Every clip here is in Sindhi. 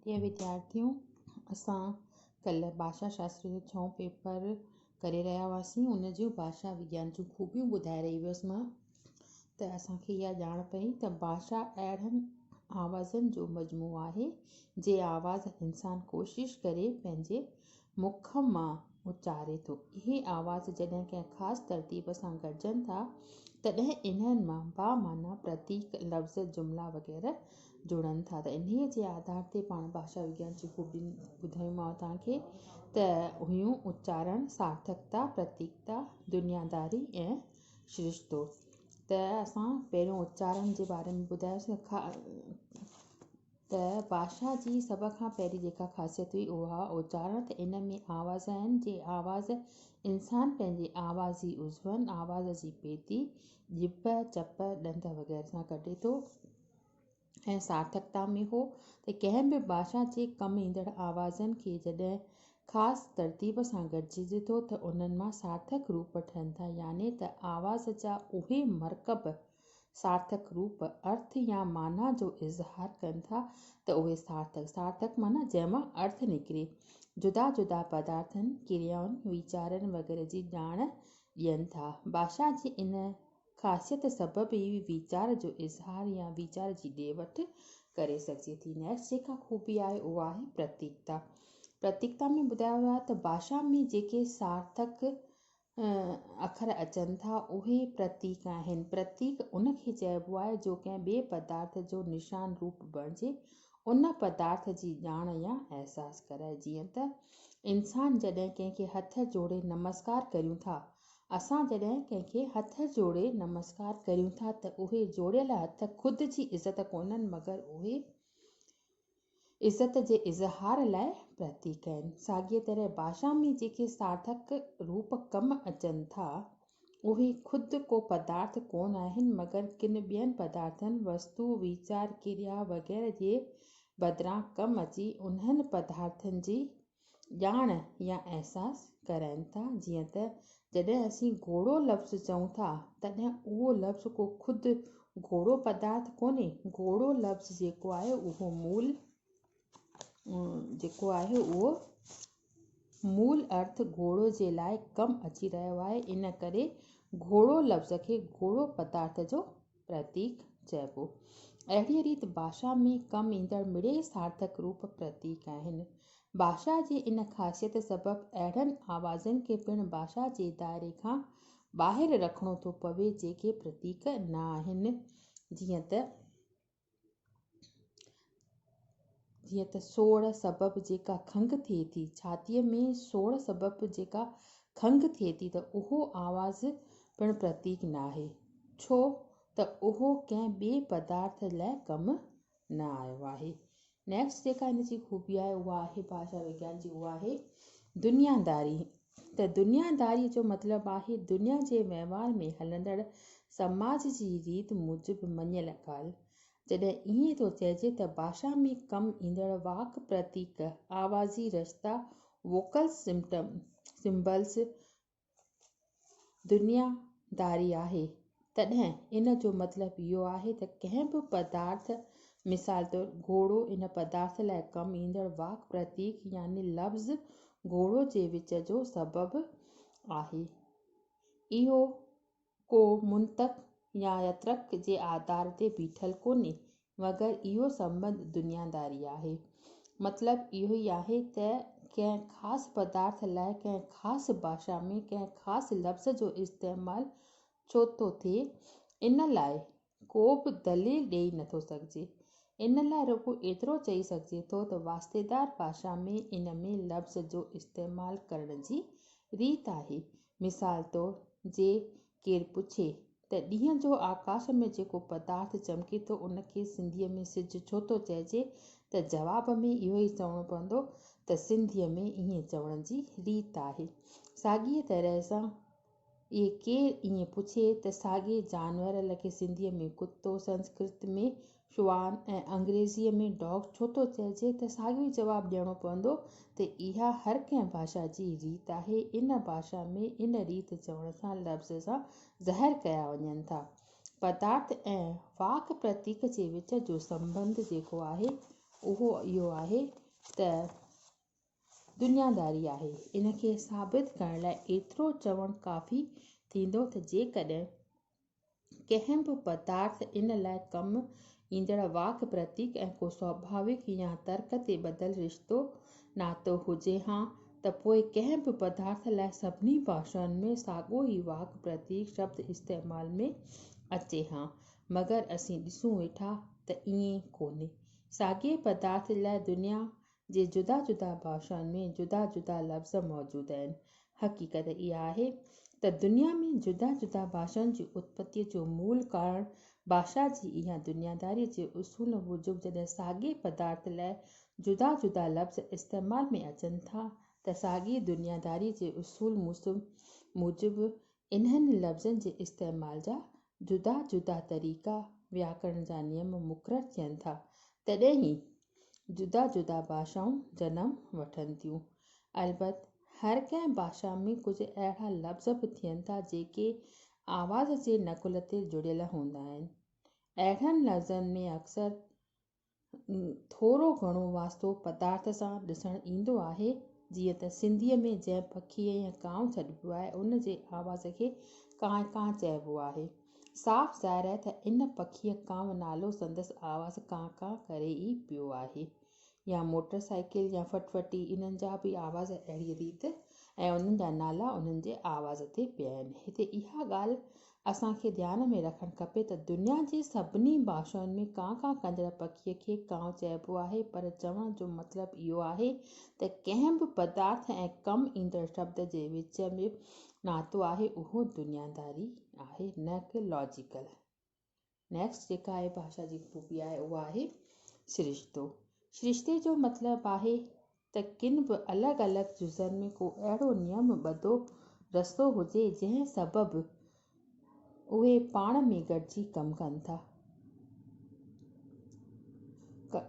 پريا وديارٿيو! اسان ڪلهه ڀاشا شاستر جو ڇهون پيپر ڪري رهيا هئاسين. ان جون ڀاشا وگيان جون خوبيون ٻڌائي رهي هئس مان ته اسان کي اها ڄاڻ پئي ته ڀاشا اهڙن آوازن جو مجموعو آهي، جي آواز انسان ڪوشش ڪري پنهنجي مک مان اچاري ٿو. اهي آواز جڏهن ڪنهن خاص ترتيب سان گڏجن ٿا، تڏهن انهن مان بامعنيٰ پرتيڪ، لفظ، جملا وغيره جڙن ٿا ته انهيء جي آڌار تي پاڻ ڀاشا وگيان جون خوبيون ٻڌايومانء توهان کي ته اهيون اچارڻ، سارٿڪتا، پرتيڪتا، دنياداري ۽ شرشتو. ته اسان پهريون اچارڻ جي باري ۾ ٻڌايوسين. ته بادشاهه جي سڀ کان پهرين جيڪا خاصيت هئي اها اوچارڻ ته ان ۾ آواز آهن جي آواز انسان پنهنجي آوازي عضون، آواز جي پيتي، ڄڀ، چپ، ڏند وغيره سان ڪڍي ٿو ۽ سارٿڪتا ۾ هو ته ڪنهن به بادشاهه جي ڪم ايندڙ آوازن کي جڏهن خاص ترتيب سان گڏجي ٿو ته انهن مان سارٿڪ روپ ٺهن ٿا يعني ته آواز جا اهي مرڪب سارٿڪ روپ، ارٿ يا معنيٰ جو اظهار ڪن ٿا ته اهي سارٿڪ، سارٿڪ معنيٰ جنهن مان ارٿ نڪري، جدا جدا پدارٿن، ڪريائن، ويچارن وغيره جي ڄاڻ ڏين ٿا. ڀاشا جي ان خاصيت سبب ئي ويچار جو اظهار يا ويچار جي ڏي وٺ ڪري سگهجي ٿي. Next جيڪا خوبي آهي اها آهي پرتيڪتا. پرتيڪتا ۾ ٻڌايو ويو آهي ته ڀاشا ۾ جيڪي سارٿڪ اکر اچن ٿا، اهي پرتيڪ آهن. پرتيڪ ان کي چئبو آهي جو ڪنهن ٻئي پدارٿ جو نشان روپ بڻجي ان پدارٿ جي ڄاڻ يا احساس ڪرائي. جيئن ته انسان جڏهن ڪنهن کي هٿ جوڙي نمسڪار ڪريون ٿا، اسان جڏهن ڪنهن کي هٿ جوڙي نمسڪار ڪريون ٿا ته اهي جوڙيل هٿ خود جي عزت ڪونهن مگر اهي عزت جي اظهار لاء پرتيڪ آهن. ساڳيء طرح ڀاشا ۾ جيڪي سارٿڪ روپ ڪم اچن ٿا، اهي خود ڪو پدارٿ ڪونه آهن، مگر ڪن ٻين پدارٿن، وستو، ويچار، ڪريا وغيره جي بدران ڪم اچي انهن پدارٿن جي ڄاڻ يا احساس ڪرائين ٿا، جيئن ته جڏهن اسين گهوڙو لفظ چئون ٿا، تڏهن اهو لفظ ڪو خود گهوڙو پدارٿ ڪونهي، گهوڙو لفظ جيڪو آهي اهو مول جيڪو آهي اهو مول ارٿ گهوڙو جي لاء ڪم اچي رهيو آهي، ان ڪري گهوڙو لفظ کي گهوڙو پدارٿ جو پرتيڪ چئبو. اهڙيء ريت ڀاشا ۾ ڪم ايندڙ مڙئي سارٿڪ روپ پرتيڪ آهن. ڀاشا جي ان خاصيت سبب اهڙن آوازن کي پڻ ڀاشا جي دائري کان ٻاهر رکڻو ٿو پوي جيڪي پرتيڪ نه آهن جيئن ته. جيئن ته سوڙ سبب جيڪا کنگهه ٿئي ٿي، ڇاتيء ۾ سوڙ سبب جيڪا کنگهه ٿئي ٿي ته اهو آواز پڻ پرتيڪ ناهي، ڇو ته اهو ڪنهن ٻئي پدارٿ لاء ڪم نه آيو آهي. Next جيڪا هن جي خوبي آهي اها آهي ڀاشا وگيان جي اها آهي دنياداري. ته دنيا داري جو مطلب آهي دنيا جي وهنوار ۾ هلندڙ سماج جي ريت موجب مڃيل ڳالهه. جڏهن ائين ٿو چئجي ته ڀاشا ۾ ڪم ايندڙ واڪ پرتيڪ، آوازي رشتا، Vocal Symbols، دنيا داري آهي تڏهن ان جو مطلب اهو آهي ته ڪنهن به پدارٿ، مثال طور، گهوڙو، ان پدارٿ لاء ڪم ايندڙ واڪ پرتيڪ يعني لفظ گهوڙو جي وچ جو سبب آهي. اهو ڪو منطق يا ترڪ جي آڌار تي بيٺل ڪونهي. مگر اهو سنبنڌ دنياداري آهي. مطلب اهو ئي آهي ته ڪنهن خاص پدارٿ لاء ڪنهن خاص ڀاشا ۾ ڪنهن خاص لفظ جو استعمال ڇو ٿو ٿئي، ان لاء ڪو به دليل ڏيئي نٿو سگهجي. ان لاء رڳو ايترو چئي سگهجي ٿو ته واسطيدار ڀاشا ۾ ان ۾ لفظ جو استعمال ڪرڻ جي ريت آهي. مثال طور جي ڪير پڇي ته ڏينهن جو آڪاس ۾ جيڪو پدارٿ چمڪي ٿو ان کي سنڌيء ۾ سج ڇو ٿو چئجي ته جواب ۾ اهو ئي چوڻو پوندو ته سنڌيء ۾ ائين چوڻ جي ريت آهي. ساڳيء طرح سان اهي ڪير ائين پڇي ته ساڳئي جانور لکي سنڌيء ۾ ڪتو، سنسڪرت ۾ شوان ۽ انگريزيء ۾ Dog ڇو ٿو چئجي ته ساڳيو ئي جواب ڏيڻو پوندو ته اها هر ڪنهن ڀاشا جي ريت آهي. ان ڀاشا ۾ ان ريت چوڻ سان لفظ سان ظاهر ڪيا وڃن ٿا پدارٿ ۽ واڪ پرتيڪ جي وچ جو سنٻنڌ جيڪو آهي اهو اهو آهي ته دنياداري آهي. ان کي ثابت ڪرڻ لاء ايترو چوڻ ڪافي ٿيندو ته جيڪڏهن ڪنهن به پدارٿ ان لاء ڪم ايندڙ واڪ پرتيڪ ۽ ڪو سوڀاويڪ يا ترڪ تي ٻڌل رشتو ناتو هجي ها ته پوء ڪنهن به پدارٿ لاء سڀني ڀاشائن ۾ ساڳيو ئي واڪ پرتيڪ شبد استعمال ۾ اچي ها مگر اسين ڏسون ويٺا ته ائين ڪونهي ساڳئي پدارٿ لاء دنيا جي جدا جدا ڀاشائن ۾ جدا جدا لفظ موجود آهن. حقيقت اها آهي ته دنيا ۾ جدا جدا ڀاشائن جي اتپتيء جو مول ڪارڻ ڀاشا جي اها دنياداريء جي اصول موجب جڏهن ساڳئي پدارٿ لاء جدا جدا لفظ استعمال ۾ اچن ٿا ته ساڳئي دنياداريء جي اصول موجب انهن لفظن جي استعمال جا جدا جدا طريقا، وياڪرڻ جا نيم مقرر ٿين ٿا، تڏهن ئي جدا جدا ڀاشائون جنم وٺن ٿيون. البت هر ڪنهن ڀاشا ۾ ڪجهه اهڙا لفظ به ٿين ٿا، جيڪي آواز جي نقل تي جڙيل هوندا آهن. اهڙن لفظن ۾ اڪثر ٿورو گهڻو واسطو پدارٿ سان ڏسڻ ايندو آهي، جيئن ته سنڌيء ۾ جنهن پکيء يا ڪانء سڏبو آهي، ان جي آواز کي ڪانء ڪانء چئبو آهي. صاف ظاهر آهي ته ان پکيء ڪانء نالو سندس آواز ڪانء ڪانء ڪري ئي پيو آهي. يا موٽر سائيڪل يا فٽ فٽي انهن جا به آواز اهڙيء ريت ۽ انهن جا نالا انهن جي آواز تي پيا آهن. هتي اها ڳالهه اسان کي ڌيان ۾ رکڻ کپي ته دنيا جي سڀني ڀاشائن ۾ ڪان ڪان ڪندڙ پکي کي ڪانء چئبو آهي پر چوڻ جو مطلب اهو آهي ته ڪنهن به پدارٿ ۽ ڪم ايندڙ شبد جي وچ ۾ ناتو آهي اهو دنياداري آهي نه ڪه لاجيڪل نيڪسٽ جيڪا آهي ڀاشا جي خوبي آهي اها آهي سرشتو. سرشتي جو مطلب آهي ته ڪن به الڳ الڳ جزن ۾ ڪو اهڙو نيم ٻڌو رستو هجي جنهن سبب اهي پاڻ ۾ گڏجي ڪم ڪن ٿا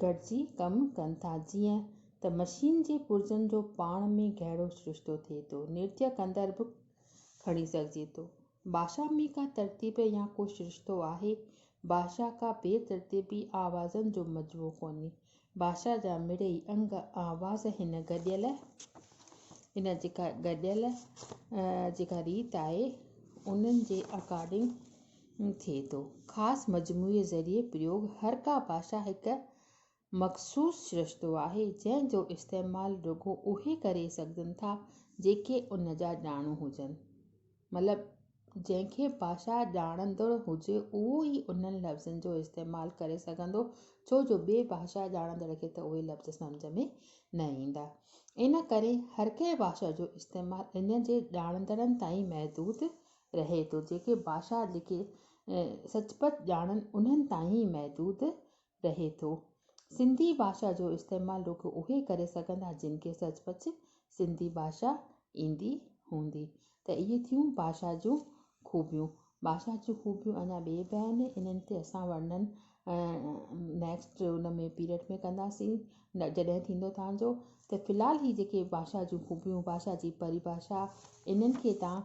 گڏجي ڪم ڪن ٿا جيئن ته مشين جي پرزن جو پاڻ ۾ گهڻو سرشتو ٿئي ٿو نرتيه ڪندڙ به کڻي سگهجي ٿو. باشا ۾ ڪا ترتيب يا ڪو سرشتو آهي؟ باشا ڪا بي ترتيبي آوازن جو مجموعو ڪونهي. باشا جا مڙئي انگ آواز هن گڏيل هن جيڪا گڏيل جيڪا ريت آهي انهن جي اڪارڊنگ ٿئي ٿو. خاص مجموعي ذريعي پريوڳ هر ڪا باشا هڪ مخصوص سرشتو آهي، جنهن جو استعمال رڳو اهي ڪري سگهن ٿا، جيڪي ان جا ڄاڻو هجن. مطلب، جنهن کي ڀاشا ڄاڻندڙ هجي، اهو ئي انهن لفظن جو استعمال ڪري سگهندو، ڇو جو ٻئي ڀاشا ڄاڻندڙ کي ته اهي لفظ سمجهه ۾ نه ايندا. ان ڪري هر ڪنهن ڀاشا جو استعمال ان جي ڄاڻندڙن تائين محدود رهي ٿو، جيڪي ڀاشا جيڪي سچ پچ ڄاڻن، انهن تائين ئي محدود رهي ٿو. سنڌي ڀاشا جو استعمال رڳو اهي ڪري سگهندا جن کي سچ پچ سنڌي ڀاشا ايندي هوندي ته اهي ٿيون ڀاشا جون خوبيون. ڀاشا جون خوبيون اڃا ٻي به آهن انهن تي اسان ورنن نيڪسٽ ان ۾ پيريڊ ۾ ڪنداسين جڏهن ٿيندو توهان جو ته في الحال هي جيڪي ڀاشا جون خوبيون ڀاشا جي پريڀاشا انهن کي توهان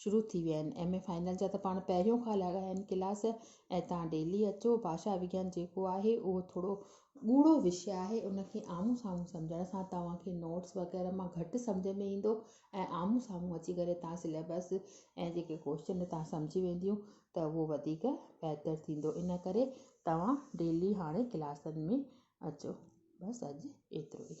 شروع ٿي ويا آهن ايم اي فائنل جا ته پاڻ پهريون کان لڳا آهن ڪلاس ۽ تان ڊيلي اچو ڀاشا وگيان جيڪو آهي اهو ٿورو ڳوڙهو وشي آهي ان کي آمهون سامهون سمجهڻ سان توهان کي نوٽس وغيره مان گهٽ سمجهه ۾ ايندو ۽ آمهون سامهون اچي ڪري توهان سليبس ۽ جيڪي ڪوشچن توهان سمجهي وينديون ته اهو وڌيڪ بهتر ٿيندو ان ڪري توهان ڊيلي هاڻي ڪلاسن ۾ اچو بس اڄ ايترو ئي.